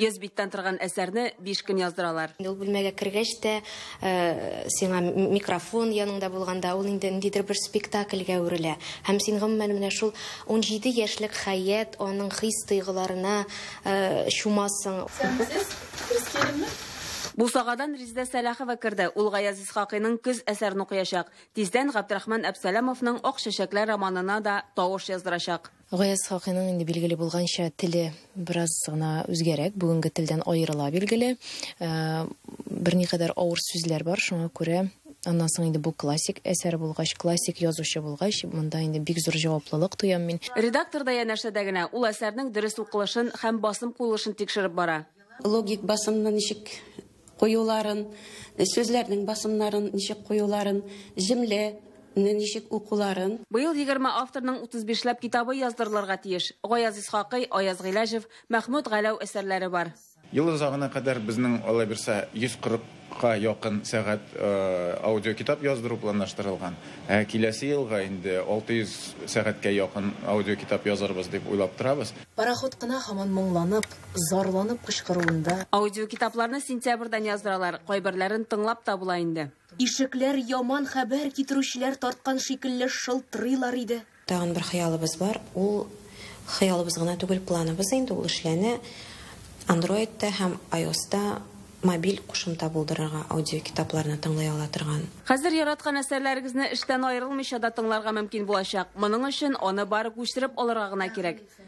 Йөз биттән торган әсәрне биш көн яздыралар. Ул бүлмәгә кергәч тә, э, сиңа микрофон яныңда булганда, ул инде ниндидер бер спектакльгә үрелә. Һәм син гомумән менә шул 17 яшьлек хәят, аның хис-тойгыларына э, чумасың. Сәнсез, дөрес киендеңме? Бусагадан Резидә Сәлахова керде. Ул Гаяз Исхакыйның Көз әсәрен укыячак. Тиздән Габдрахман Әпсәләмовның Ак чәчәкләр романына да тавыш яздырачак. Гаяз Хакыйның инде билгеле булганча теле бераз гына үзгәрәк, бүгенге телдән аерыла билгеле. Э, берникадәр авыр сүзләр бар, шуңа күрә Аннан соң инде бу классик әсәр булгач, классик язучы булгач, монда инде бик зур җаваплылык тоям мин. Редактор да янәшәдә генә ул әсәрнең дөрес укылышын һәм басым куелышын тикшереп бара. Логик басымны ничек Куюларын, сүзләрнең басымнарын ничек куюларын, җөмлә не ничек укуларын. Быел егерме авторның утыз бишләп китабы яздырылырга тиеш. Гаяз Исхакый, Аяз Гыйләҗев, Мәхмүт Галәү әсәрләре бар. Ел озагына кадәр безнең алайбирса 140 ка якын сәгать аудиокитап яздыру планлаштырылган. Ә киләсе елга инде 600 сәгатькә якын аудиокитап язырбыз дип уйлап торабыз. Пароход кына һаман моңланып, зарланып кычкыруында. Аудиокитапларны сентябрьдән яздыралар, кайберләрен тыңлап та була инде. Ишекләр яман хәбәр китерүчеләр тарткан шикелле шылтырыйлар иде. Тагын бер хыялыбыз бар, ул хыялыбыз гына түгел, планыбыз инде, ул эшләнә, Андроидта һәм айоста мобиль кушымта булдырырга, аудиокитапларны тыңлый ала торган. Хәзер яраткан әсәрләрегезне эштән аерылмыйча да тыңларга мөмкин булачак. Моның өчен аны бары күчереп алырга гына кирәк.